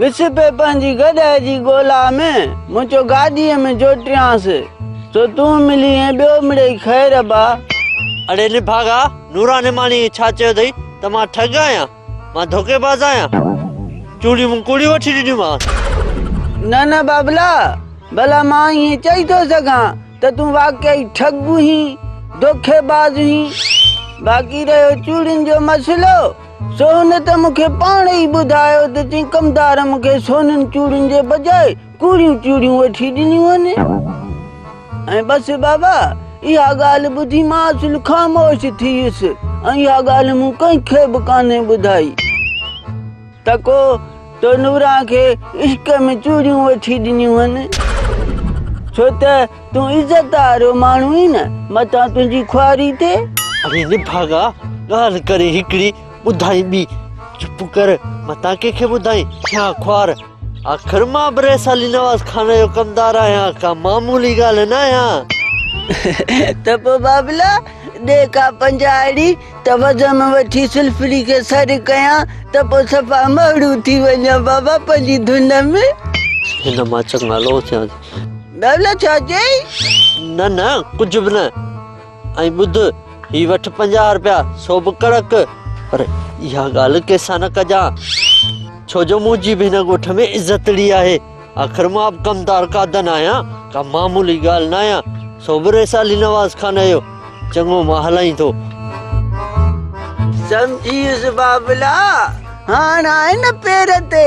وسپي پنهنجي گڏهه جي ڳولا ۾، منهنجو گاڏيء ۾ جوٽيانس، سو تون ملي ۽ ٻيو مڙئي خير با. اڙي نڀاڳا، نورا نعماڻيء ڇا چيو اٿئي ته مان ٺڳ آهيان؟ مان ڌوڪيباز آهيان؟ چوڙيون مون ڪوڙيون وٺي ڏنيومانس. نه نه بابلا، ڀلا مان ائين چئي ٿو سگهان ته تون واقعي ٺڳ هئين، ڌوڪيباز هئين. باقي رهيو چوڙين جو مسئلو، سو هن ته مون کي پاڻ ئي ٻڌايو ته چئين ڪمدار مون کي سونن چوڙين جي بجاء ڪوڙيون چوڙيون وٺي ڏنيون آهن ۽ بس بابا اها ڳالهه ٻڌي مان اصل خاموش ٿي ويس ۽ اها ڳالهه مون ڪنهن کي به ڪانهي ٻڌائي ته ڪو تو نوران کي عشق ۾ چوڙيون وٺي ڏنيون آهن ڇو ته تون عزت وارو ماڻهو آهين نه متان تنهنجي خواري ٿئي. اڙي نڀاڳا ڳالهه ڪري هڪڙي ٻڌائين ٻي چپ ڪر متان ڪنهن کي ٻڌائين ٿيان خوار آخر مان به رئيس علي نواز خان جو ڪمدار آهيان ڪا معمولي ڳالهه نه آهيان. ته پوء بابلا ڏي ڪا پنجاهڙي ته وزم وٺي سلڦڙي کي سر ڪيان ته پوء صفا مهڙو ٿي وڃان بابا پنهنجي ڌن ۾. هن مان چڱا لو ٿيان. ڏولا ڇا چيائين؟ نه نه ڪجهه به نه ۽ ٻڌ هي وٺ پنجاهه رپيا سو به ڪڙڪ پر اها ڳالهه ڪنهن سان نه ڪجان ڇو جو منهنجي به هن ڳوٺ ۾ عزتڙي آهي آخر مان به ڪمدار قادن آهيان ڪا معمولي ڳالهه نه آهيان سو به ريسالي نواز خان اهو چڱو مان هلائين ٿو سمجهيس بابلا هاڻ آهي نه پير تي